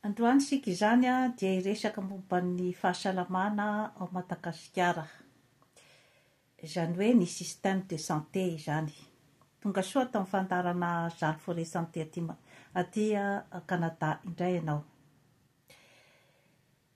Androany isika izany dia hiresaka momba ny fahasalamana ao Madagasikara, izany hoe ny système de santé izany. Tonga soa ato amin'ny fandaharana Zalo Forêt Santé aty Canada indray ianao.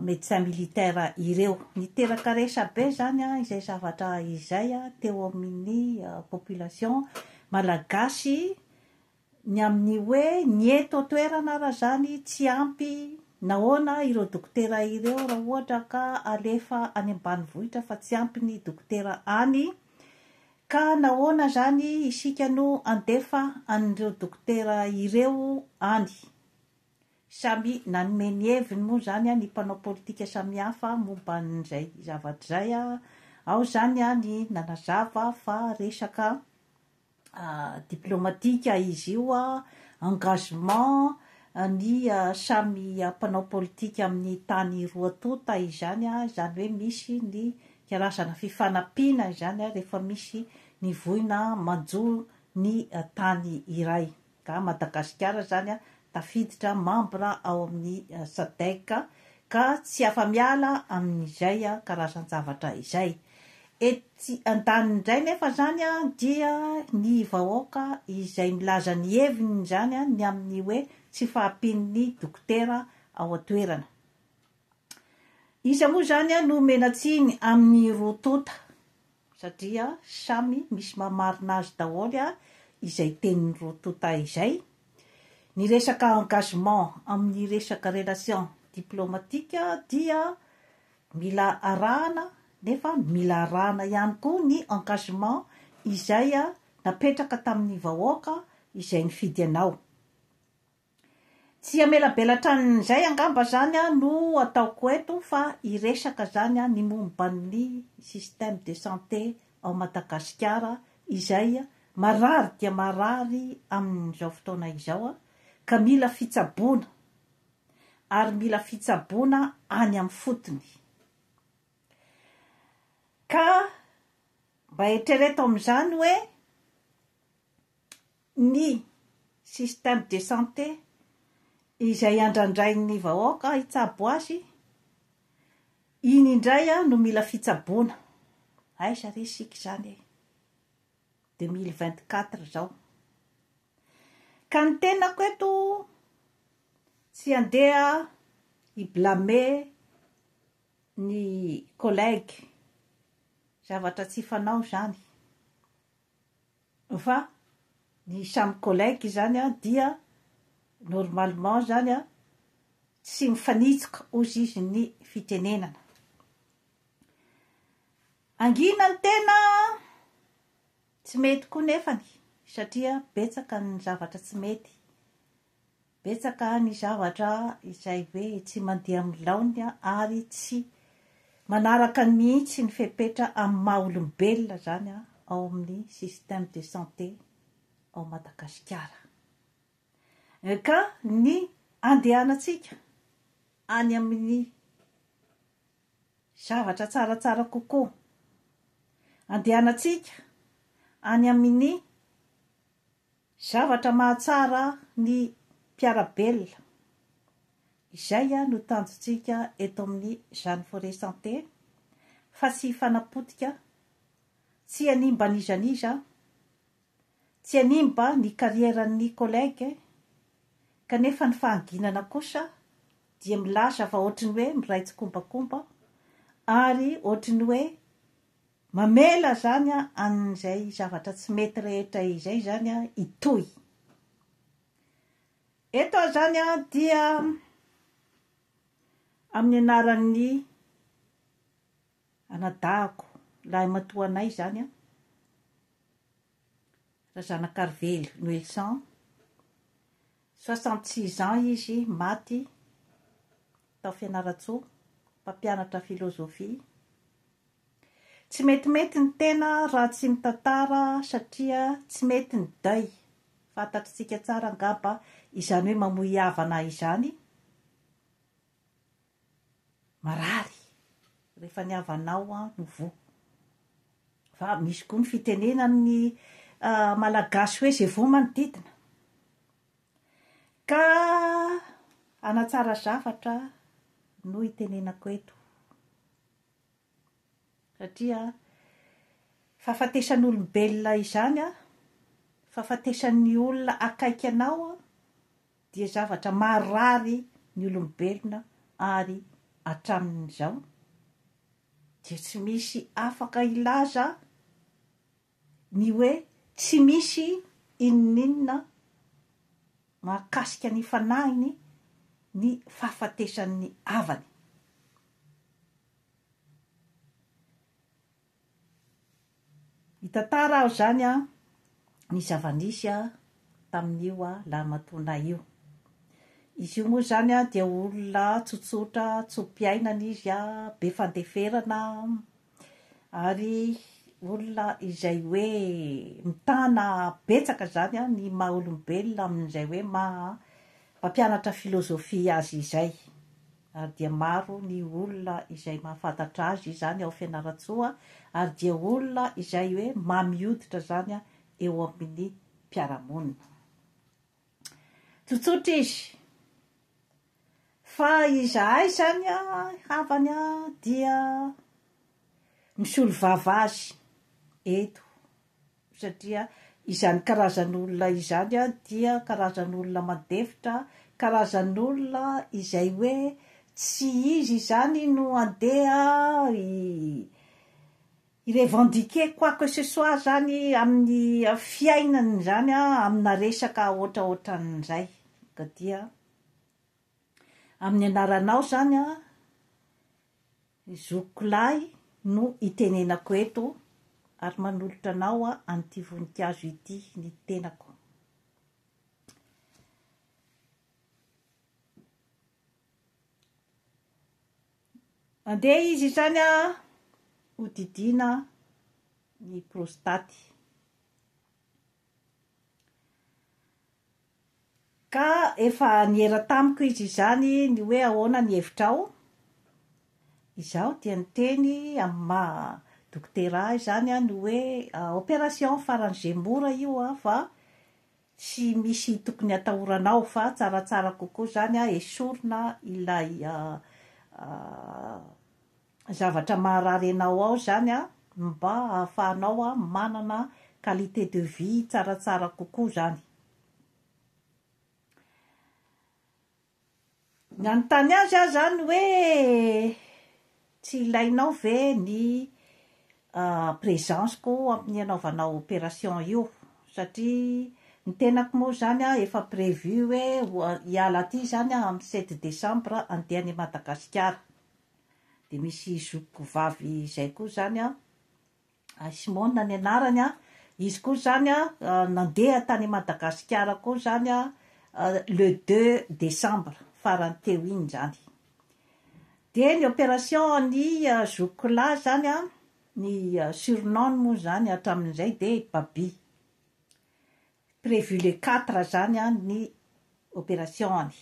médecin militaire ireo. Niteraka resabe izany izay zavatra izay teo amin'ny population malagasy ny amin'ny hoe ny eto an-toerana ary izany tsy ampy nahoana ireo dokotera ireo raha ohatra ka alefa any ambanivohitra fa tsy ampy ny dokotera any ka nahoana izany isika no handefa an'ireo dokotera ireo any. Samy nanome ny heviny moa izany ny mpanao politika samihafa momba an'izay zavatra izay. Ao izany ny nanazava fa resaka diplomatika izy io, engagement ny samy mpanao politika amin'ny tany roa tonta izany, izany hoe misy ny karazana fifanampiana izany rehefa misy ny voina manjo ny tany iray. ka Madagasikara izany tafiditra membre ao amin'ny Sadec ka tsy afa-miala amin'izay karazan-javatra izay. Etsy andaniny indray nefa izany dia ny vahoaka izay milaza ny heviny izany ny amin'ny hoe tsy fahampian'ny dokotera ao an-toerana. Iza moa izany no mena-tsiny amin'ny roa tonta? satria samy misy maha marina azy daholo izay tenin'i Rotota izay, ny resaka engagement amin'ny resaka relation diplomatique dia mila arahana nefa mila arahana ihany koa ny engagement izay napetraka tamin'ny vahoaka izay nifidy anao. Tsy hamelabelatra an'izay angamba zany no ataoko eto fa hiresaka zany ny momba ny système de santé ao Madagasikara izay marary dia marary amin'izao fotoana izao ka mila fitsaboana ary mila fitsaboana any amin'ny fotony ka mba eritrereto amin'izany hoe Ny système de santé izay andrandrain'ny vahoaka hitsabo azy, iny indray no mila fitsaboana. Aiza re isika izany e! 2024 izao. Ka ny tenako eto, tsy handeha hi-blâmer ny collègues, zavatra tsy fanao izany. Fa ny samy collègue izany an dia normalement izany an tsy mifanitsika ozy izy ny fitenenana. Hangina ny tena tsy mety koa nefany satria betsaka ny zavatra tsy mety. Betsaka ny zavatra izay hoe tsy mandeha amin'ny laoniny ary tsy manaraka mihitsy ny fepetra amin'ny maha olombelona izany ao amin'ny système de santé ao Madagasikara. Ka ny andehanantsika any amin'ny zavatra tsaratsara kokoa, andehanantsika any amin'ny Zavatra mahatsara ny mpiara-belona. Izay no tanjontsika eto amin'ny Jeanne Forest Santé fa tsy hifanapotika, tsy hanimba an'iza n'iza, tsy hanimba ny karieran'ny collègue kanefa ny fahanginana kosa dia milaza fa ohatry ny hoe miray tsikombakomba ary ohatry ny hoe Mamela izany an'izay zavatra tsy mety rehetra izay izany hitohy. Eto izany dia amin'ny anaran'ny anadahiko lahimatoa anay izany Razanakarivelo Noelson, soixante six ans izy, maty tao Fianarantsoa, mpampianatra filozofia. Tsy metimety ny tena raha tsy mitantara satria tsy mety ny deuil, fantatritsika tsara angamba izany hoe mamoy havana izany, marary rehefa ny havanao no voa. Fa misy koa ny fitenenan'ny Malagasy hoe izay voa manodidina. Ka hanatsara zavatra no itenenako eto. Satria fahafatesan'olombelona izany an, fahafatesan'ny olona akaiky anao an, dia zavatra marary ny olombelona ary hatramin'izao dia tsy misy afaka hilaza ny hoe tsy misy inoninona mahakasika ny fanahiny ny fahafatesan'ny havany. Hitantara aho izany an, ny zava-nisy an tamin'io an lahimatoanay io. Izy io moa izany an dia olona tsotsotra, tso-piainana izy an, be fandeferana an, Ary olona izay hoe mitana betsaka izany ny maha olombelona amin'izay hoe maha mpampianatra filozofia azy izay. Ary dia maro ny olona izay mahafantatra azy izany ao Fianarantsoa ary dia olona izay hoe mamioditra izany eo amin'ny mpiara-monina. Tsotsotra izy. Fa izahay izany havany dia misolovava azy eto, satria izany karazan'olona izany dia karazan'olona madefitra, karazan'olona izay hoe tsy izy izany no handeha hi-revendiquer quoi que ce soit zany amin'ny fiainany zany an, amina resaka ohatraohatran'izay, ka dia amin'ny anaranao zany an, zokiko lahy no itenenako eto ary manolotra anao an'ity voninkazo ity ny tenako. Andeha izy izany hodidiana ny prostaty. Ka efa niera tamiko izy izany ny hoe ahoana ny hevitrao? Izaho dia niteny amin'ny maha dokotera ahy izany aho ny hoe operation faran'izay mora io an, fa Tsy misy tokony hatahorana aho fa tsaratsara kokoa zany a esorina ilay zavatra maharary anao ao zany a mba ahafahanao a manana qualité de vie tsaratsara kokoa zany. Nanontany azy aho izany hoe tsy ilainao ve ny présence-ko amin'ny anaovanao opération io satria ny tenako moa izany an efa prévu hoe hiala aty izany aho amin'ny sept décembre handeha any Madagasikara, dia misy zokiko vavy izay koa izany an, I Simona ny anarany an, izy koa izany an nandeha tany Madagasikara koa izany an le deux décembre farany teo iny izany. Dia ny opération an'i zokiky lahy izany an, ny surnom-ny moa izany hatramin'izay dia i Baby. Prévu le quatre izany an ny opération-ny.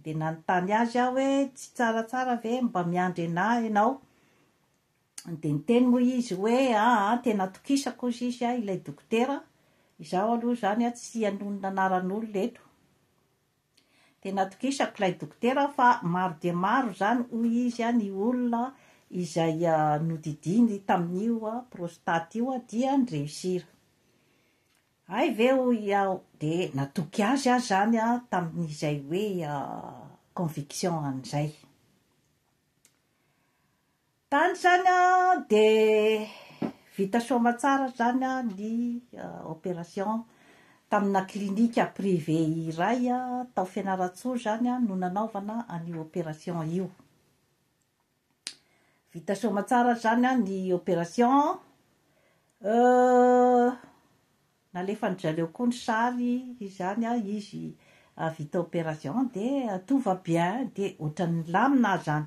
Dia nanontany azy aho hoe tsy tsaratsara ve mba miandry an'ahy ianao? Dia niteny moa izy hoe, aa, tena atokisako hozy izy a, ilay dokotera, izaho aloha izany a tsy hanonona anaran'olona eto, tena atokisako ilay dokotera fa maro dia maro izany hoy izy a ny olona izay nodidiany tamin'io prostate io a dia ni-réussir. Hay ve hoy aho, dia natoky azy aho izany a tamin'izay hoe conviction an'izay. Tany zany an de vita soamatsara zany an ny operation tamina clinique privé iray tao fianarantsoa zany an no nanaovana an'io operation io vita soamatsara zany an ny operation euh Nalefan dry zareo koa ny sary izany a izy vita operation de tout va bien de otrany nilamina aza any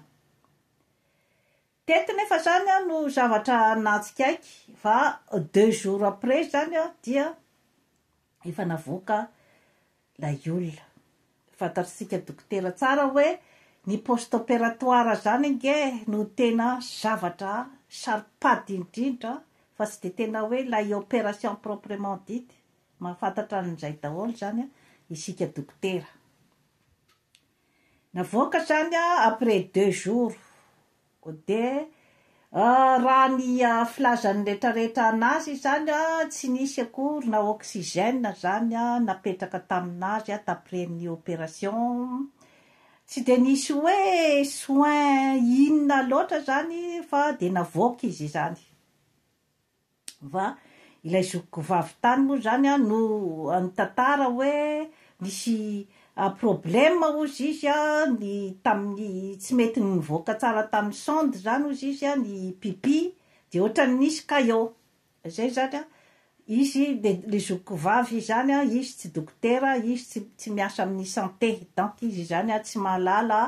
teto nefa zany a no zavatra natsikaiky fa deux jours après zany a dia efa navoaka lay olona. Fantatr'isika dokotera tsara hoe ny post opératoire zany ange no tena zavatra saro-pady indrindra fa tsy de tena hoe lay opération proprement dite. Mahafantatra an'izay daholo zany isika dokotera. Navoaka zany a après deux jours ko de raha ny filazan'ny retraretra anazy izany a tsy nisy akory na oxygène zany a napetraka taminazy a t'après ny opération tsy de nisy hoe soins inona loatra zany fa de navoaka izy izany. va? Ilay zokiko vavy tany moa izany an no nitantara hoe nisy problème hozy izy an ny tamin'ny tsy mety nivoaka tsara tamin'ny sonde izany hozy izy an ny pipi dia ohatran'ny nisy caillot izay izany an izy dia ilay zokiko vavy izany an izy tsy dokotera izy tsy tsy miasa amin'ny santé donc izy izany an tsy mahalala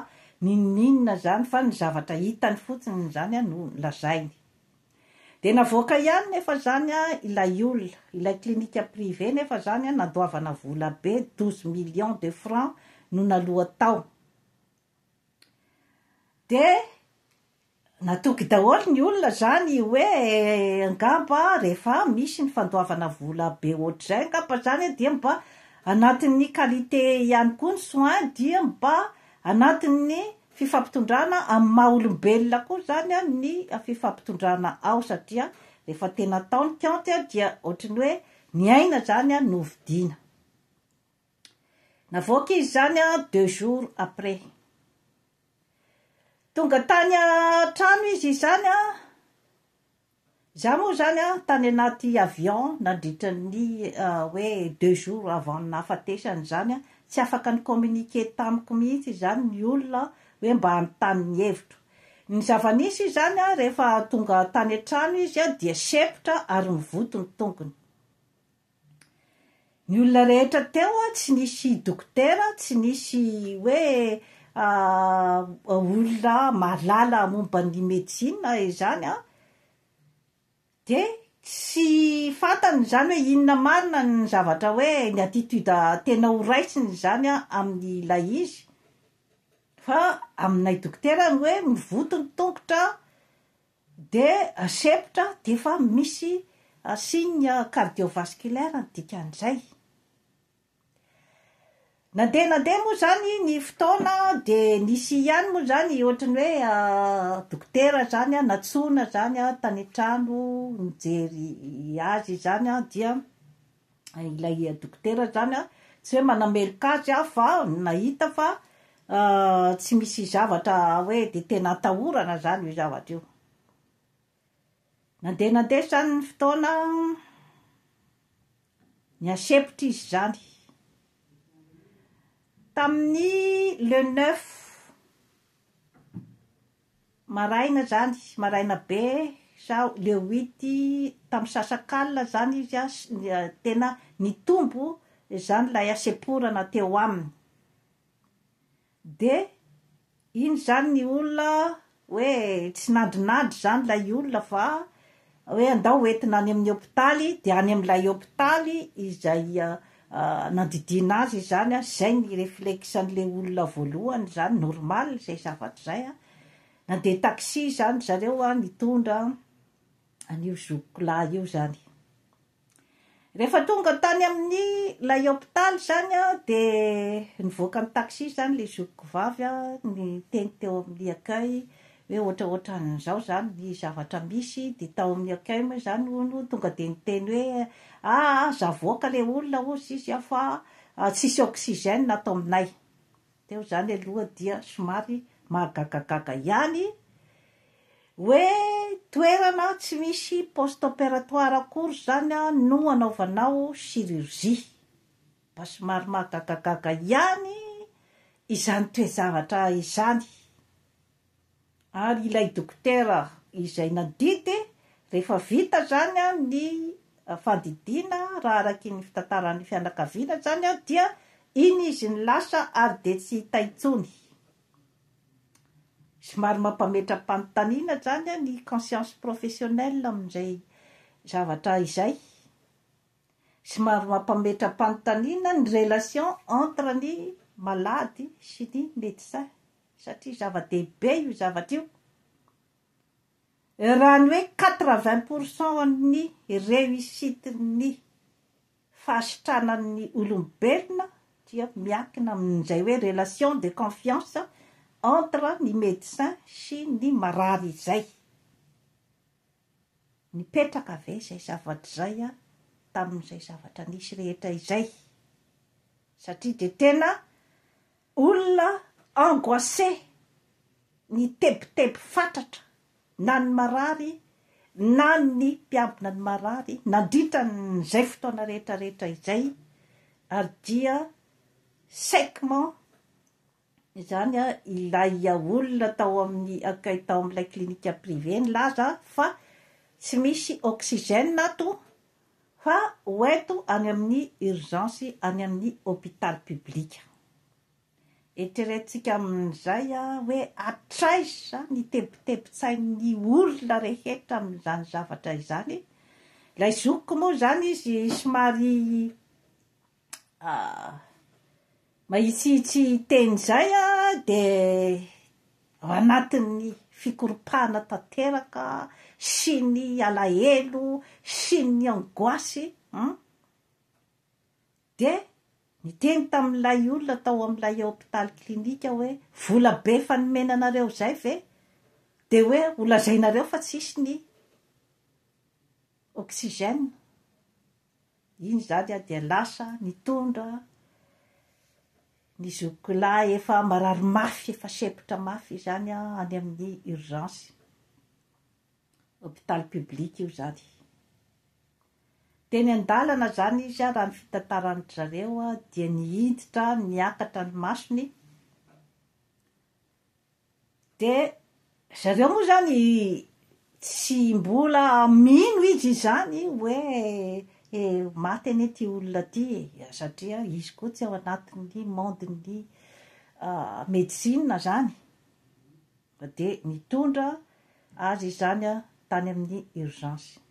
n'inon'inona izany fa ny zavatra hitany fotsiny izany an no lazainy Dia navoaka ihany nefa zany ilay olona, ilay clinique privé nefa zany nandoavana vola be douze millions de francs no naloa tao. Dia natoky daholo ny olona zany hoe angamba rehefa misy ny fandoavana vola be ohatr'izay angamba zany dia mba anatin'ny qualité ihany koa ny soins dia mba anatin'ny Fifampitondrana amin'ny maha olombelona koa izany ny fifampitondrana ao satria rehefa tena atao ny kaonty dia ohatry ny hoe ny aina izany no vidiana. Navoaka izy izany deux jours après. Tonga tany an-trano izy izany Za moa zany an tany anaty avion nandritra ny hoe deux jours avant ny nahafatesany izany an, tsy afaka ni communiquer tamiko mihitsy izany ny olona an, hoe mba hanontany ny hevitro. Ny zava-nisy izany an, rehefa tonga tany an-trano izy an dia sempotra ary mivoto ny tongony. Ny olona rehetra teo an, tsy nisy dokotera, tsy nisy hoe olona mahalala momba ny medecine izany an, dia tsy fantany izany hoe inona marina ny zavatra hoe ny attitude tena ho raisiny izany an amin'ilay izy, fa aminay dokotera ny hoe mivoto ny tongotra, Dia sempotra dia efa misy signe cardiovasculaire ny dikan'izay. Nandeha nandeha moa izany ny fotoana dia nisy ihany moa izany ohatry ny hoe dokotera izany nantsoina izany tany an-trano nijery azy izany dia ilay dokotera zany an, tsy hoe manameloka azy aho fa nahita fa tsy misy zavatra hoe dia tena atahorana zany io zavatra io. Nandeha nandeha zany ny fotoana an, nihasempotra izy zany, tamin'ny le neuf. Maraina zany, maraina be sa le huit tam sasakalina zany izy a, tena nitombo zany lay hasemporana teo aminy. De iny zany ny olona hoe tsy nandrinandry zany lay olona fa. hoe andao ho entina any amin'ny hopitaly dia any amin'ilay hopitaly izay nandidiana azy izany, izay ny reflexe an'ilay olona voalohany izany, normal izay zavatra izay, nandeha taxi izany ry zareo nitondra an'io zokiko lahy io izany. Rehefa tonga tany amin'ny ilay hopitaly izany aho dia nivoaka ny taxi izany ilay zokiko vavy niteny teo amin'ny accueil hoe ohatraohatran'izao izany ny zavatra misy dia tao amin'ny accueil moa izany hono tonga dia niteny hoe ah aza avoaka ilay olona hozy izy fa tsisy oxygène ato aminay. Teo izany aloha dia somary mahagagagaga ihany hoe toerana tsy misy post operatoire akory izany no hanaovanao chirurgie. Mba somary mahagagagaga ihany izany toe-javatra izany. ary ilay dokotera izay nandidy, rehefa vita izany ny fandidiana raha araky ny fitantaran'ny fianakaviana izany dia iny izy no lasa ary dia tsy hita intsony. Somary mampametra-panontaniana izany ny conscience professionnelle amin'izay zavatra izay. Somary mampametra-panontaniana ny relation entre ny malady sy ny médecin. satria zava-dehibe io zavatra io, raha ny hoe quatre vingt pour cent an'ny réussite ny fahasitranan'ny olombelona dia miankina amin'izay hoe relation de confiance entre ny médecin sy ny marary izay, nipetraka ve izay zavatra izay tamin'izay zavatra nisy rehetra izay? satria dia tena Olona angoissé, ny tebiteby fatratra, na ny marary na ny mpiambina ny marary nandritra an'izay fotoana rehetra rehetra izay, ary dia sèquement izany ilay olona tao amin'ny accueil tao amin'ilay clinique privée nilaza fa tsy misy oxygène ato Fa ho ento any amin'ny urgence any amin'ny hôpital public. Eritreretintsika amin'izay hoe hatraiza ny tebitebin-tsain'ny olona rehetra amin'izany zavatra izany. Ilay zokiko moa izany izy somary Ah. Mahitsihitsy hiteny izay aho dia ao anatin'ny fikoropahana tanteraka sy ny alahelo sy ny angoisse an! Dia niteny tamin'ilay olona tao amin'ilay hopitaly clinique aho hoe, vola be efa nomena anareo izay ve dia hoe ho lazainareo fa tsisy ny oxygène? Iny izany dia lasa nitondra ny zokiko lahy efa marary mafy, efa sempotra mafy izany any amin'ny urgence. Hôpital public io izany. Teny an-dalana izany izy raha ny fitantaran-dry zareo dia nihiditra niakatra ny masony, Dia zareo moa izany tsy mbola mino izy izany hoe maty anie ity olona ity e, satria izy koa tsy ao anatin'ny monde-n'ny medecine izany. Dia nitondra azy izany tany amin'ny urgence.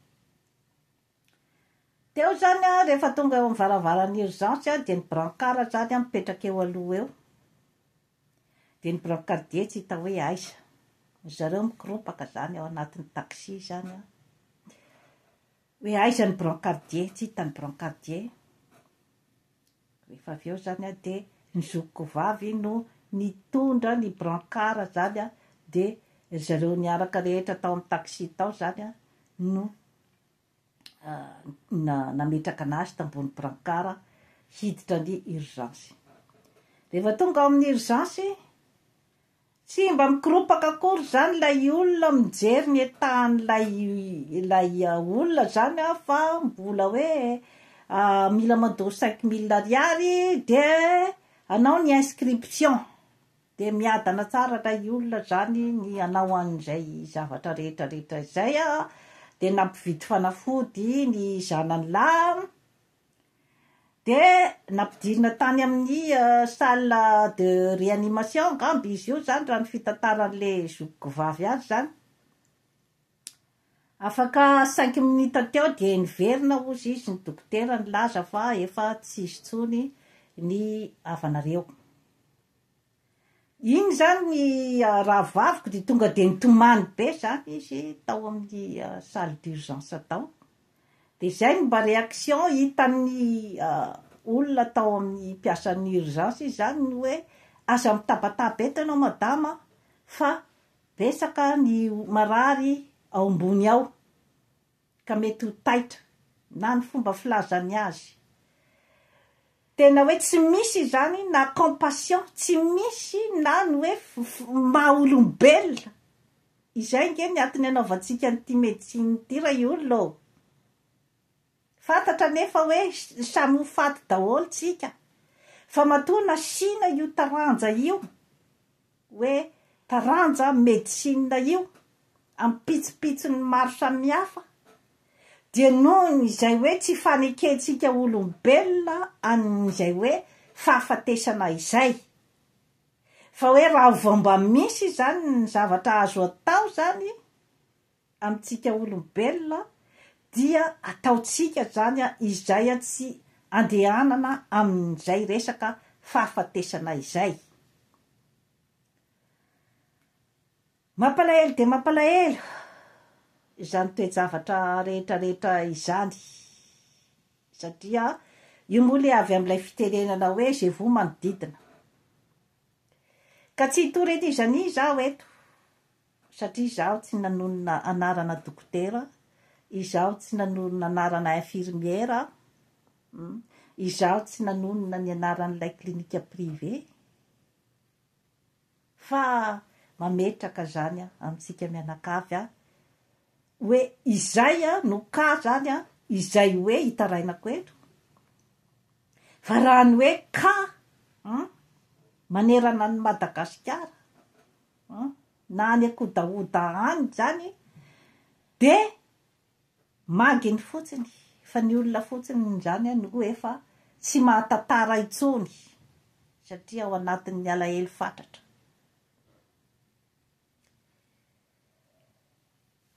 Teo izany rehefa tonga eo amin'ny varavaran'ny urgence dia ny brancard izany mipetraka eo aloha eo. Dia ny brancardier tsy hita hoe aiza. Ry zareo mikoropaka izany ao anatin'ny taxi izany an! Hoe aiza ny brancardier, tsy hita ny brancardier. Rehefa avy eo izany an, dia ny zokiko vavy no nitondra ny brancard izany an, dia ry zareo niaraka rehetra tao amin'ny taxi tao izany an no. nametraka anazy tambony brankara hiditra ny urgence. Rehefa tonga ao amin'ny urgence, tsy mba mikoropaka akory izany ilay olona mijery ny etahan'ilay ilay olona izany an, fa mbola hoe mila mandoa cinq mille ariary dia hanao ny inscription. Dia miadana tsara ilay olona izany ny hanao an'izay zavatra rehetra rehetra izay a, dia nampividy fanafody ny zanany lahy, dia nampidirina tany amin'ny salle de réanimation angamba izy io izany raha ny fitantaran'ilay zokiko vavy azy izany, afaka cinq minutes teo dia niverina hozy izy ny dokotera nilaza fa efa tsy hisy intsony ny havanareo. Iny izany ny rahavaviko dia tonga dia nitomany be izany izy tao amin'ny salle d'urgence tao, dia izay no mba réaction hitan'ny olona tao amin'ny mpiasan'ny urgence izy izany ny hoe aza mitabataba eto ianao madama an, fa betsaka ny marary ao ambony ao. ka mety ho taitra na ny fomba filazany azy tena hoe tsy misy izany na compassion tsy misy na ny hoe maha olombelona izay nge ny atiny anaovantsika an'ity medecine ity ra i olona ô fantatra anefa hoe samy ho faty daholo tsika fa matoa nasiana io taranja io hoe taranja medicine io amin'ny pitsopitsony maro samihafa, dia noho izay hoe tsy fanekentsika olombelona an'izay hoe fahafatesana izay, fa hoe raha vao mba misy izany ny zavatra azo atao izany amintsika olombelona dia ataontsika izany izay tsy andehanana amin'izay resaka fahafatesana izay. Mampalahelo dia mampalahelo izany toe-javatra rehetrarehetra izany satria io moa ilay avy amin'ilay fitenenana hoe je vous manodidina ka tsy hitory an'iza an'iza aho eto. Satria izaho tsy nanonona anarana dokotera, izaho tsy nanonona anarana infirmière aho, izaho tsy nanonona ny anaran'ilay clinique privé, fa mametraka izany amintsika mianakavy aho hoe izay no cas izany, izay hoe hitarainako eto, fa raha ny hoe cas manerana an'i Madagasikara, an, na any akodahoda any zany de maginy fotsiny fa ny olona fotsiny zany an no efa tsy mahatantara intsony satria ao anatin'ny alahelo fatratra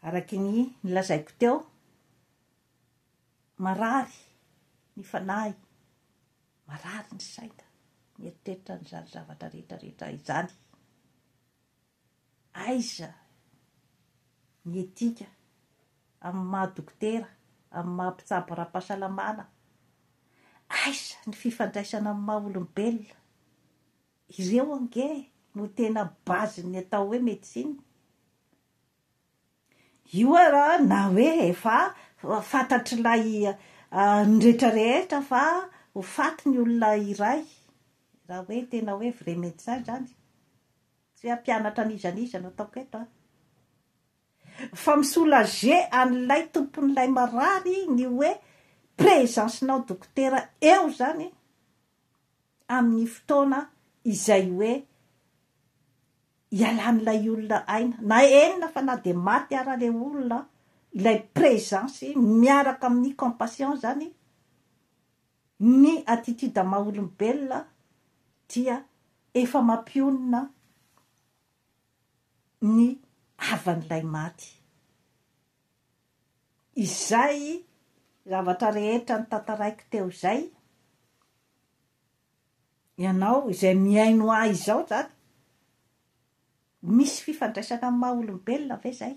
araky ny nilazaiko teo, marary ny fanahy. Marary ny saina mieritreritra an'izany zavatra rehetra rehetra izany. Aiza ny etika amin'ny maha dokotera, amin'ny maha mpitsabo ara-pahasalamana? Aiza ny fifandraisana amin'ny maha olombelona? Ireo ange no tena base-n'ny atao hoe médecine. Io ara na hoe efa fantatr'ilay ny rehetra rehetra fa ho faty ny olona iray, raha hoe tena hoe vrai médecin izany, tsy hoe hampianatra an'iza an'iza no ataoko eto an! Fa mi soulager an'ilay tompon'ilay marary ny hoe présence nao dokotera eo izany amin'ny fotoana izay hoe hialan'ilay olona aina na enina fa na dia maty ara ilay olona ilay présence miaraka amin'ny compassion izany ny attitude maha olombelona dia efa mampionona ny havan'ilay maty izay zavatra rehetra notantaraiko teo izay Ianao izay mihaino ahy izao izany, misy fifandraisana amin'ny maha olombelona ve izay?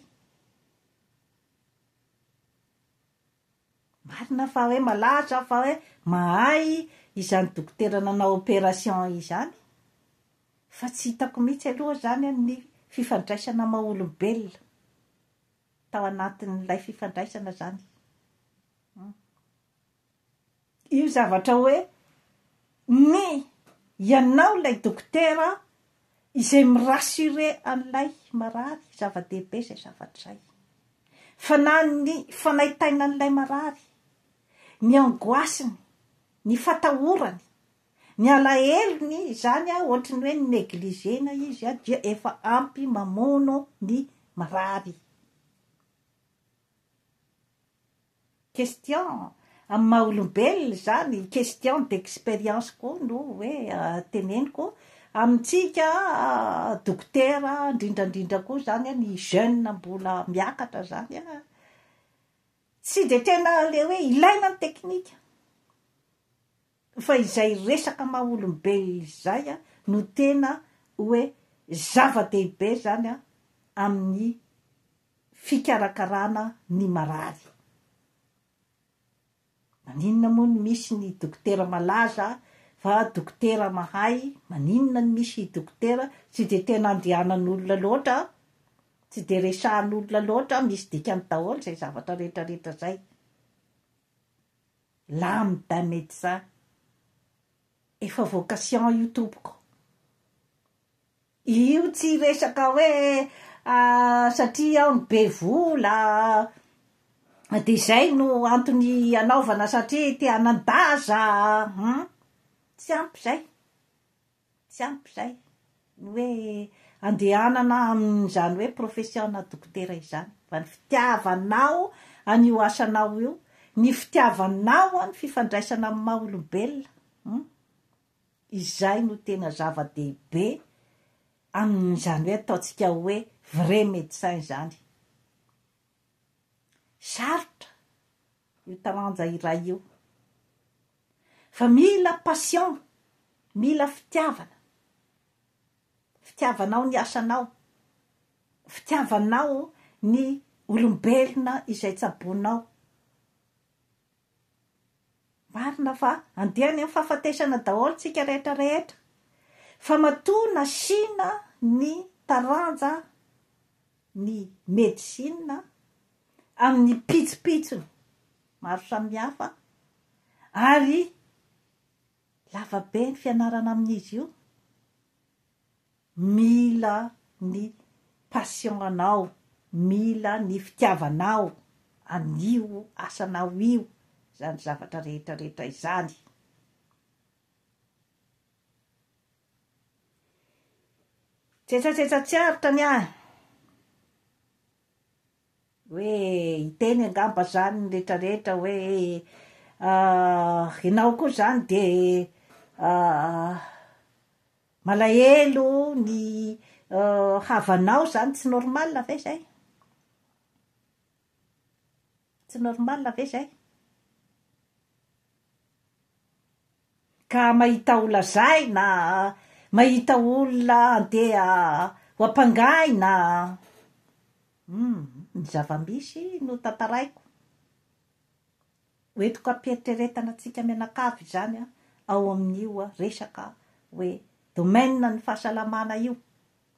Marina fa hoe malaza aho fa hoe mahay izany dokotera nanao opération izany, fa tsy hitako mihitsy aloha izany ny fifandraisana amin'ny maha olombelona tao anatin'ilay fifandraisana izany. Hum. io zavatra hoe ny ianao ilay dokotera izay mi rassurer an'ilay marary, zava-dehibe izay zavatra izay. Fa na ny fanaintainan'ilay marary, ny angoisse-ny, ny fatahorany, ny alahelony izany ohatry ny hoe ni negliger-na izy dia efa ampy mamono ny marary. Question amin'ny maha olombelona izany, question d'expérience koa no hoe teneniko amintsika dokotera indrindra indrindra koa izany ny jeune mbola miakatra izany an, tsy dia tena ilay hoe ilaina ny teknika. Fa izay resaka maha olombelona izay no tena hoe zava-dehibe izany amin'ny fikarakarana ny marary. Maninona moa no misy ny dokotera malaza fa dokotera mahay, maninona no misy dokotera tsy dia tena andehanan'olona loatra, tsy dia resahan'olona loatra, misy dikany daholo izay zavatra rehetra rehetra izay. Lambda Médecin efa vocation io tompoko. Io tsy resaka hoe satria aho no be vola dia izay no antony anaovana satria te hanan-daza, hum, tsy ampy izay. Tsy ampy izay ny hoe andehanana amin'izany hoe profession-na dokotera izany fa ny fitiavanao an'io asanao io, ny fitiavanao ny fifandraisana amin'ny maha olombelona, hum, izay no tena zava-dehibe amin'izany hoe ataontsika hoe vrai médecin izany. Sarotra io taranja iray io fa mila passion, mila fitiavana, fitiavanao ny asanao, fitiavanao ny olombelona izay tsaboinao. Marina fa andeha any amin'ny fahafatesana daholo tsika rehetra rehetra fa matoa nasiana ny taranja ny medicine amin'ny pitsopitsony maro samihafa ary lavabe ny fianarana amin'izy io, Mila ny passion anao, mila ny fitiavanao an'io asanao io izany zavatra rehetra rehetra izany. Tsetsatsetsa tsy aritra ny ahy hoe hiteny angamba izany ny rehetra rehetra hoe ianao koa izany dia Malahelo ny havanao zany tsy normal ve zay? Tsy normal ve zay? Ka mahita ho lazaina, mahita olona andeha ho ampangaina, humm, ny zava-misy no tantaraiko, ho entiko hampiheritreretana antsika mianakavy izany an, ao amin'io resaka hoe domaine ny fahasalamana io,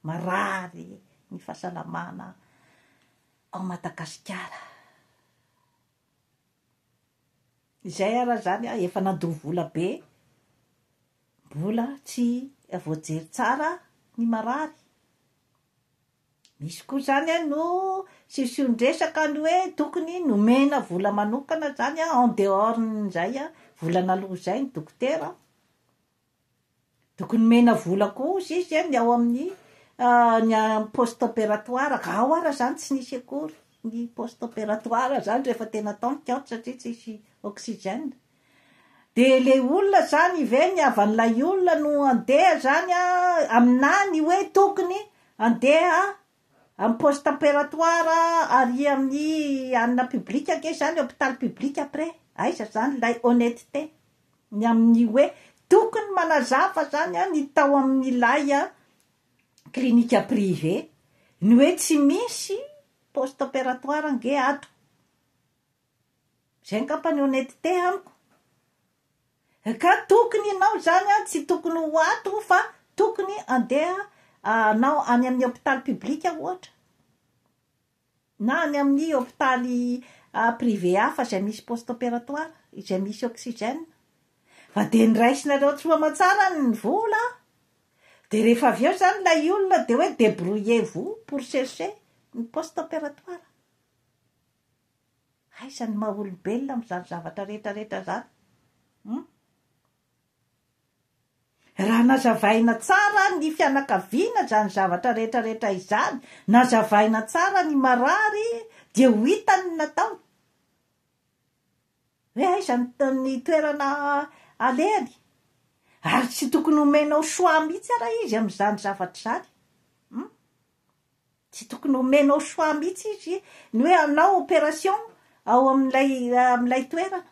marary ny fahasalamana ao Madagasikara. Izay ara izany an, efa nandoa vola be, mbola tsy voajery tsara ny marary. Misy koa zany a no sision-dresaka ny hoe tokony nomena vola manokana zany a en dehors n'izay a, vola naloa izay ny dokotera a, tokony nomena vola koa hozy izy a ny ao amin'ny ny amin'ny poste opératoire, ka ao ara zany tsy nisy akory ny poste opératoire zany rehefa tena tantiko aho satria tsisy oxygène. De le olona zany ve ny havan'ilay olona no andeha zany a aminà ny hoe tokony andeha am poste temperatoire ary amin'ny anona public ange zany hopitaly public après aiza zany lay honnetete ny amin'ny hoe tokony manazava zany a ny tao amin'ilay a clinique privé ny hoe tsy misy poste temperatoire ange ato. Zay ngamba ny honnetete amiko. Ka tokony ianao zany an tsy tokony ho ato fa tokony andeha anao any amin'ny hopitaly public ohatra na any amin'ny hopitaly privé hafa izay misy poste opératoire izay misy oxygène fa dia niraisinareo tsy aman-tsara ny vola dia rehefa avy eo zany ilay olona dia hoe débrouillez-vous pour chercher ny poste opératoire Aiza ny maha olombelona amin'izany zavatra rehetrarehetra izany? Hum? Raha nazavaina tsara ny fianakaviana izany zavatra rehetrarehetra izany, nazavaina tsara ny marary, dia ho hita ny nataony. Hoe aiza ny toerana alehany? Ary tsy tokony homenao choix mihitsy ara izy amin'izany zavatra izany. Hum? Tsy tokony omenao choix mihitsy izy ny hoe hanao opération ao amin'ilay amin'ilay toerana.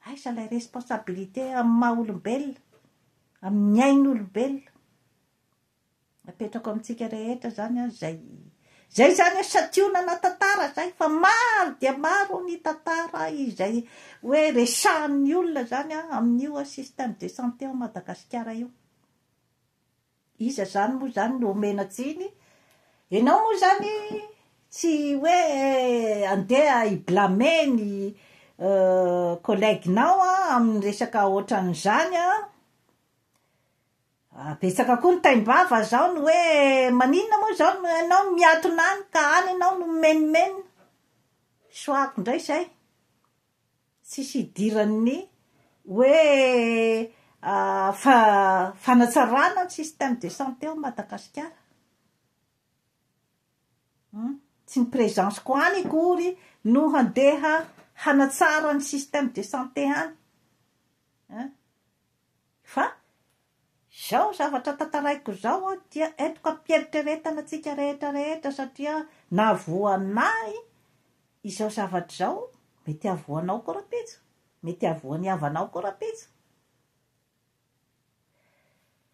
Aiza ilay responsabilité amin'ny maha olombelona, amin'ny ain'olombelona. Apetrako amintsika rehetra izany an, izay izay izany an, santionana tantara izay fa maro dia maro ny tantara izay hoe resahan'ny olona izany an, amin'io système de santé ao Madagasikara io. Iza zany moa zany no omena tsiny? Enao moa zany tsy hoe andeha hi blamer ny collègue nao amin'ny resaka otran'izany an! Betsaka koa ny taim-bava zao ny hoe maninona moa zao no enao no miatona any ka any enao no mimenomenona? Soahako ndray zay. Tsisy hidiran'ny hoe fanatsarana ny système de santé ao Madagasikara. Tsy ny présence-ko any akory no handeha hanatsara ny système de santé any. Fa izao zavatra tantaraiko izao dia entiko am-pieritreretana antsika rehetra rehetra satria nahavoan' ahy izao zavatra izao, mety hahavoanao koa rahampitso, mety hahavoan' ny havanao koa rahampitso.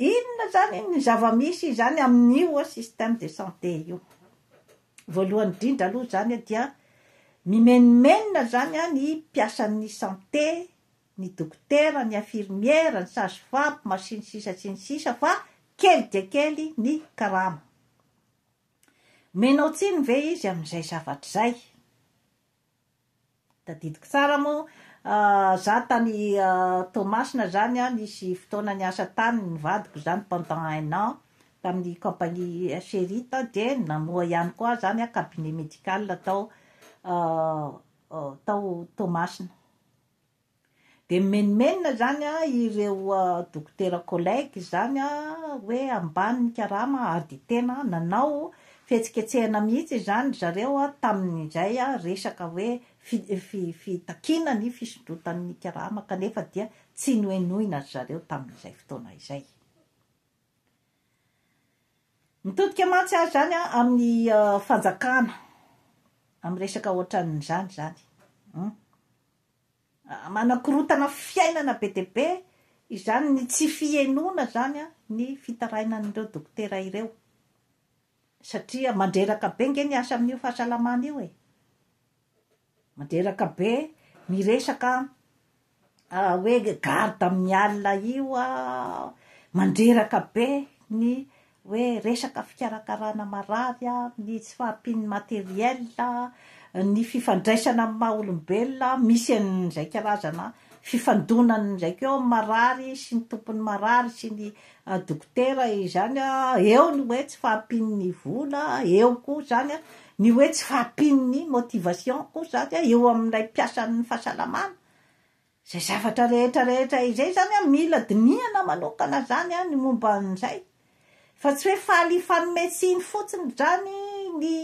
Inona izany ny zava-misy izany amin' io système de santé io? Voalohany indrindra aloha izany dia mimenomenona izany ny mpiasan' ny santé ny dokotera, ny infirmiera, ny sage femme, sy ny sisa sy ny sisa fa kely dia kely ny karama. Menao tsiny ve izy amin'izay zavatra izay? Tadidiko tsara moa za tany Toamasina zany an, nisy fotoana niasa tany ny vadiko zany pendant un an tamin'ny compagnie Cherit an, dia namoha ihany koa zany an cabinet médical tao tao Toamasina. Dia mimenomenona izany ireo dokotera collègues izany hoe ambany ny karama ary dia tena nanao fihetsiketsehana mihitsy izany ry zareo tamin'izay resaka hoe fitakiana ny fisondrotan'ny karama kanefa dia tsy nohenoina ry zareo tamin'izay fotoana izay. Mitodika mantsy ary izany amin'ny fanjakana, amin'ny resaka ohatran'izany izany. Manakorotana fiainana be dia be izany ny tsy fihenoana izany ny fitarainan'ireo dokotera ireo, satria mandreraka be ange ny asa amin'io fahasalamana io e! Mandreraka be miresaka ah hoe garde amin'ny alina io ah, mandreraka be ny hoe resaka fikarakarana marary ah, ny tsy fahampian'ny matériel ah, ny fifandraisana amin'ny maha olombelona ah, misy an'izay karazana fifandonana izay ko eo amin'ny marary sy ny tompon'ny marary sy ny a dokotera e izany a eo ny hoe tsy fahampian'ny vola a eo koa izany a ny hoe tsy fahampian'ny motivation koa izany a eo amin'ilay mpiasan'ny fahasalamana izay zavatra rehetra rehetra izay izany a mila dinihana manokana izany a ny momba an'izay fa tsy hoe faly hifanome tsiny fotsiny izany ny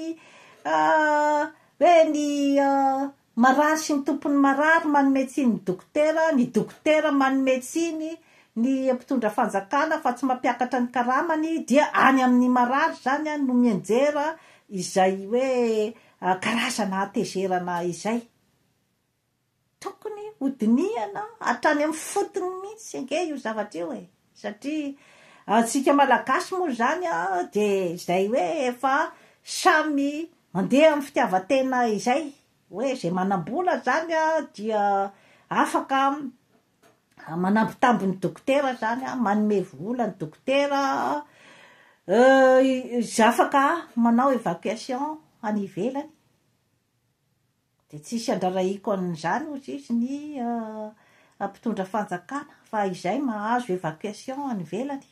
a hoe ny a Marary sy mitompo ny marary, manome tsiny ny dokotera, ny dokotera manome tsiny ny mpitondra fanjakana fa tsy mampiakatra ny karamany, dia any amin'ny marary izany no mianjera izay hoe karazana hatezerana izay. Tokony hodinihana hatrany amin'ny fotony mihitsy ange io zavatra io e! Satria antsika Malagasy moa izany dia izay hoe efa samy mandeha amin'ny fitiavan-tena izay, hoe izay manam-bola izany dia afaka manambitamby ny dokotera izany, manome vola ny dokotera, afaka manao évacuation any ivelany. Dia tsy hisy handrarahiko an'izany, hoy Jiosy, ny mpitondra fanjakana, fa izay mahazo évacuation any ivelany.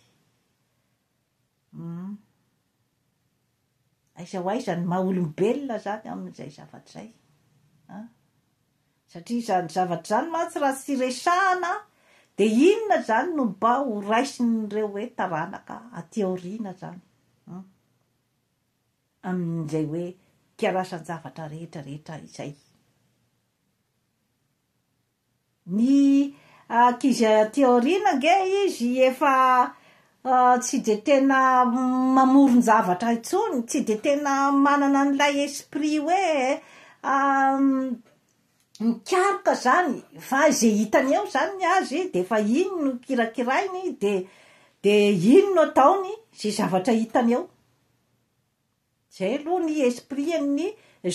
Hum. Aiza ho aiza ny maha-olombelona izany amin'izay zavatra izay? An? Satria izany zavatra izany mantsy raha tsy resahana, dia inona izany no mba horaisin'ireo hoe taranaka aty aoriana izany? Hum. amin'izay hoe kirasan-javatra rehetra rehetra izay. Ny ankizy aty aoriana ange izy efa tsy dia tena mamoron-javatra intsony, tsy dia tena manana an'ilay esprit hoe mikaroka izany fa izay hitany eo izany ny azy dia efa iny no kirakirainy dia dia iny no ataony izay zavatra hitany eo. Izay aloha ny esprit-n'ny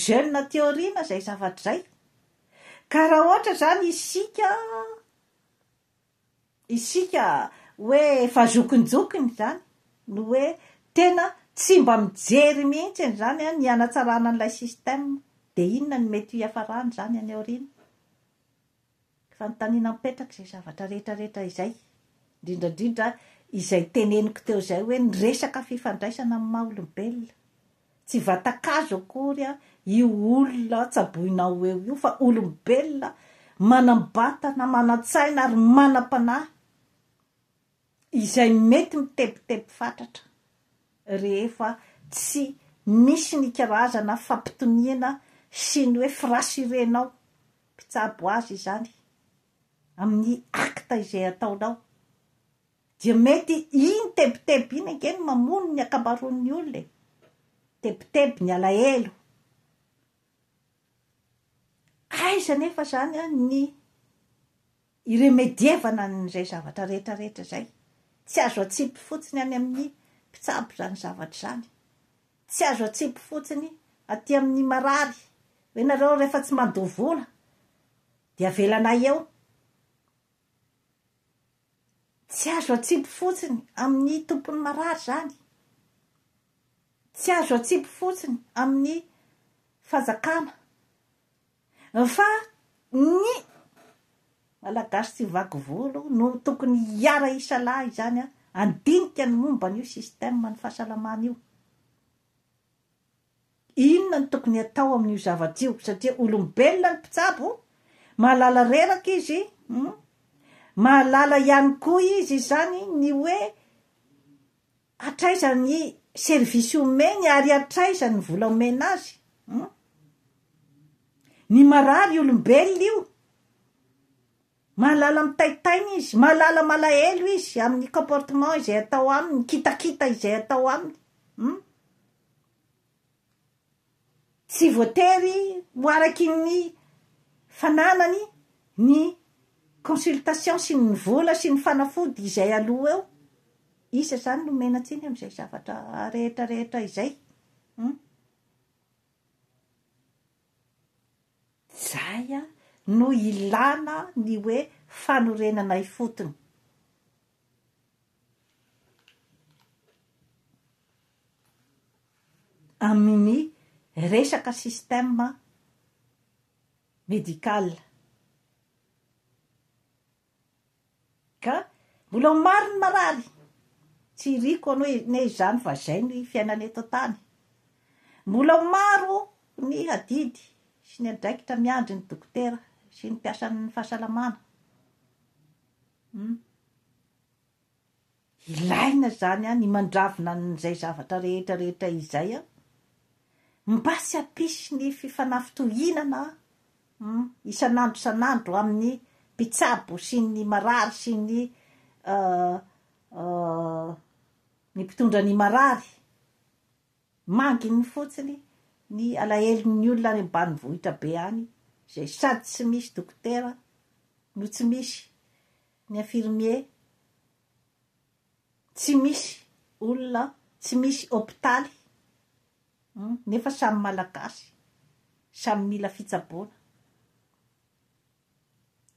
jeune aty aoriana izay zavatra izay. Ka raha ohatra izany isika, isika hoe efa zokinjokiny izany no hoe tena tsy mba mijery mihitsy an'izany ny hanatsarana an'ilay système, dia inona no mety hiafarany izany any aoriana? Fanontaniana mipetraka izay zavatra rehetra rehetra izay, indrindra indrindra izay teneniko teo izay hoe ny resaka fifandraisana amin'ny maha olombelona, tsy vatan-kazo akory io olona tsaboinao ho eo io fa olombelona manam-batana, manan-tsaina ary manam-panahy. izay mety mitebiteby fatratra rehefa tsy misy ny karazana fampitoniana sy ny hoe firasirenao mpitsabo azy izany amin'ny acte izay ataonao dia mety iny tebiteby iny ange no mamono ny ankamaroan'ny olona e! tebiteby ny alahelo aiza anefa izany ny Hiremedievana an'izay zavatra rehetra rehetra izay. Tsy azo atsipy fotsiny any amin'ny mpitsabo izany zavatra izany. Tsy azo atsipy fotsiny aty amin'ny marary. Hoe ianareo rehefa tsy mandoa vola dia avelanay eo. Tsy azo atsipy fotsiny amin'ny tompon'ny marary izany. Tsy azo atsipy fotsiny amin'ny fanjakana. Fa ny Malagasy tsy vaky volo no tokony hiara hisalahy izany an! Handinika ny momba an'io système ny fahasalamana io. Inona no tokony hatao amin'io zavatra io satria olombelona ny mpitsabo, mahalala reraka izy, mahalala ihany koa izy izany ny hoe Hatraiza ny service omeny ary hatraiza ny vola omena azy hum. Ny marary olombelona io. Mahalala mitaitaina izy, mahalala malahelo izy amin'ny comportement izay atao aminy, kitakita izay atao aminy hum. Tsy voatery ho araky ny fananany ny consultation sy ny vola sy ny fanafody izay aloa eo, iza izany no omena tsiny amin'izay zavatra rehetra rehetra izay? Hum. Izay no ilana ny hoe fanorenana ifotony. amin'ny resaka système médical ka mbola ho maro ny marary, tsy iriko anie izany fa izay ny fiainana eto an-tany, mbola ho maro ny adidy sy ny andraikitra miandry ny dokotera sy ny mpiasan'ny fahasalamana, humm. Ilaina izany an, ny mandravona an'izay zavatra rehetra rehetra izay an. Mba tsy hampisy ny fifanafintohinana an, isan'andro isan'andro amin'ny mpitsabo sy ny marary sy ny ny mpitondra ny marary. Manginy fotsiny ny alahelon'ny olona any ambanivohitra be any izay sady tsy misy dokotera no tsy misy ny infirmier tsy misy olona tsy misy hopitaly nefa samy malagasy samy mila fitsaboana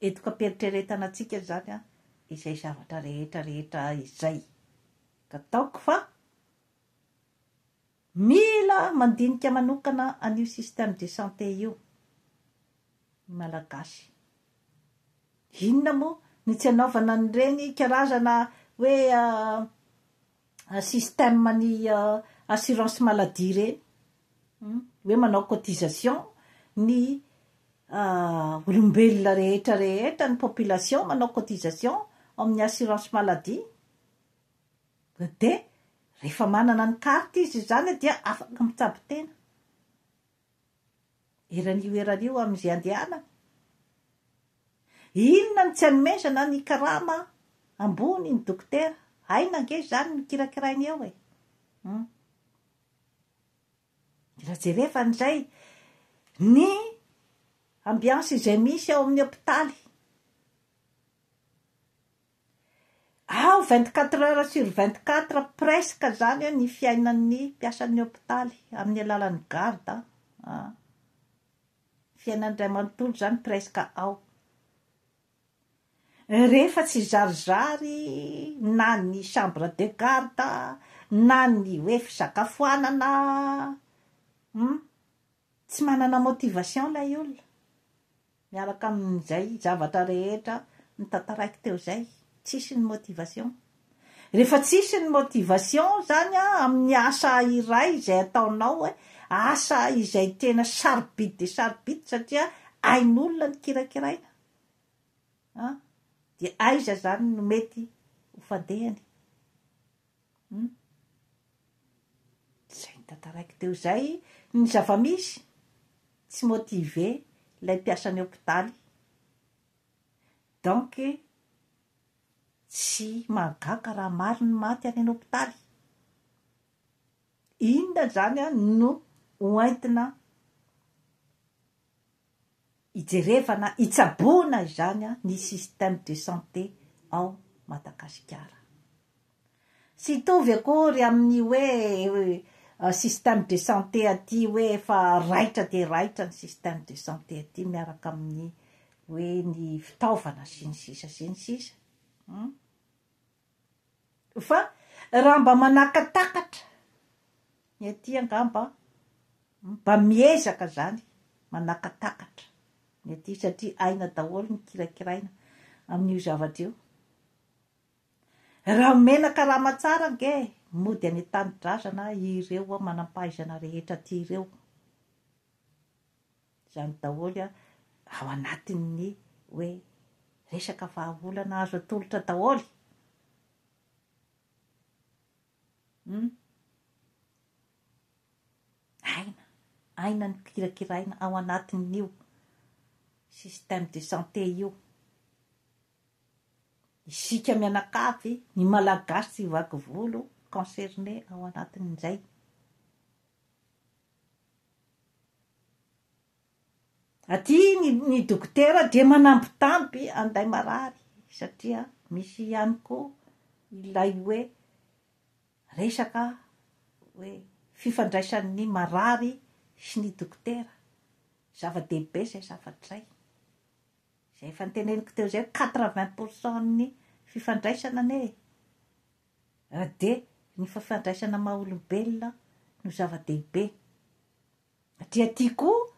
edokam-pieritreretana antsika izany a izay zavatra rehetra rehetra izay ka taoko fa Mila mandinika manokana an'io système de santé io ny Malagasy. Inona moa no tsy anaovana an'ireny karazana hoe système ny assurance maladie ireny? Hoe manao cotisation ny olombelona rehetra rehetra, ny population manao cotisation ao amin'ny assurance maladie. Dia rehefa manana ny carte izy izany dia afaka mitsabo tena eran'io erana io amin'izay andehanany. Inona no tsy anomezana ny karama ambony ny dokotera? Aina ange izany no kirakirainy eo e! Hum. Mila jerevana izay ny ambiance izay misy ao amin'ny hopitaly. Ao vingt quatre heures sur vingt quatre presque izany ny fiainan'ny mpiasan'ny hopitaly amin'ny alalan'ny garde an! an! Fiainany iray manontolo izany presque ao. Rehefa tsy zarizary na ny chambre de garde na ny hoe fisakafoanana, hum. Tsy manana motivation ilay olona miaraka amin'izay zavatra rehetra notantaraiko teo izay, tsisy ny motivation. Rehefa tsisy ny motivation izany amin'ny asa iray izay ataonao, asa izay tena sarobidy dia sarobidy satria ain'olona ny kirakiraina, dia aiza izany no mety ho fandehany? Humm. Izay notantaraiko teo izay ny zava-misy, tsy motivé ilay mpiasan'ny hopitaly. Donc, tsy mahagaga raha maro ny maty any an-hopitaly. Inona izany no hoentina hijerevana, hitsaboana izany ny système de santé ao Madagasikara. Tsy hitovy akory amin'ny hoe système de santé aty hoe efa raitra dia raitra ny système de santé aty miaraka amin'ny hoe ny fitaovana sy ny sisa sy ny sisa. Hum. Fa raha mba manakatakatra ny aty angamba mba miezaka zany manakatakatra ny aty satria aina daholo ny kirakiraina amin'io zavatra io. Raha omena karama tsara ange mody any an-tanidrazana ireo manampahaizana rehetra aty ireo. Izany daholo ao anatin'ny hoe resaka vahaolana azo atolotra daholo. Hmm. Aina, aina ny kirakiraina ao anatin'io système de santé io. Isika mianakavy, ny malagasy tsy vaky volo, concerné ao anatin'izay. Aty ny, ny dokotera dia manambitamby an'ilay marary satria misy ihany koa ilay hoe resaka hoe fifandraisan'ny marary sy ny dokotera. Zava-dehibe izay zavatra izay. Izay efa noteneniko teo izay, quatre-vingts pour cent-n'ny fifandraisana anie e! Raha dia ny fafandraisana maha olombelona no zava-dehibe. Aty aty koa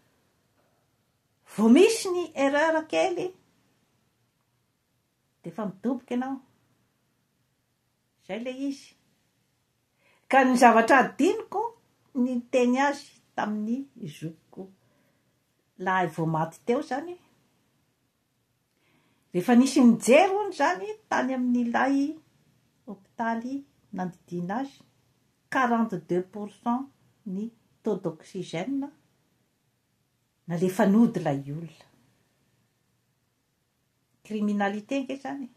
vao misy ny erreur kely dia efa midoboka ianao. Izay ilay izy. Ka ny zavatra adinoko ny niteny azy tamin'ny zokiko lahy vao maty teo izany, Rehefa nisy nijery hono izany tany amin'ilay hopitaly nandidiana azy, quarante deux pour cent ny taux d'oxygène nalefa nody ilay olona. Criminalité ange izany e!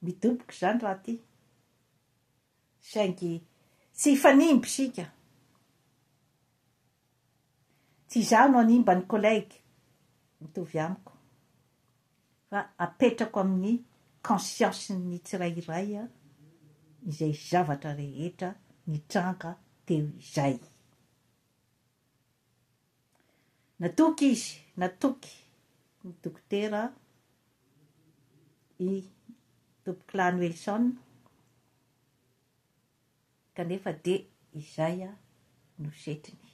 Midoboka izany raha ty. Saingy tsy hifanimba isika. Tsy izaho no hanimba ny collègue mitovy amiko fa apetrako amin'ny conscience-n'ny tsirairay izay zavatra rehetra nitranga teo izay. Natoky izy, natoky ny dokotera i Tompokolahy Noelson. Kanefa dia izay no setiny.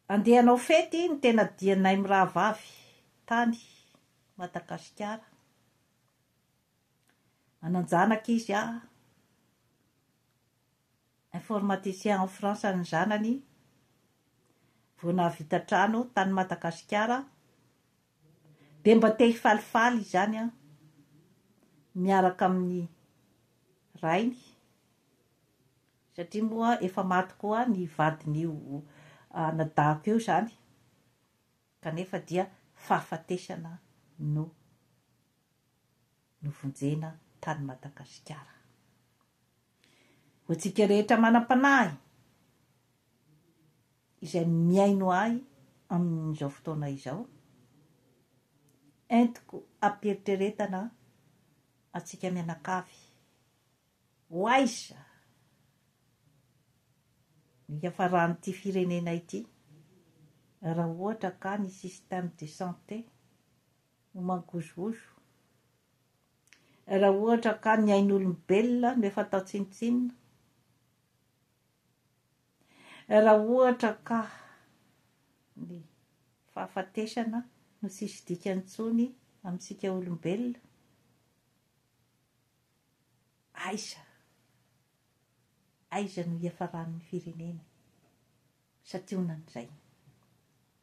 Andeha hanao fety ny tena dianay mirahavavy tany Madagasikara. Manan-janaka izy a. Informaticien en France ny zanany. Vao nahavita trano tany Madagasikara. Dia mba te hifalifaly izany aho miaraka amin'ny rainy satria moa efa maty koa ny vadin'io anadahiko io izany kanefa dia fahafatesana no novonjena tany Madagasikara. Ho antsika rehetra manam-panahy izay mihaino ahy amin'izao fotoana izao, entiko am-pieritreretana antsika mianakavy. Ho aiza no hiafaran'ity firenena ity raha ohatra ka ny système de santé no mangozohozo. Raha ohatra ka ny ain'olombelona no efa atao tsinontsinona, raha ohatra ka ny fahafatesana no tsisy dikany intsony amintsika olombelona, aiza aiza no hiafaran'ny firenena satihonan'izay?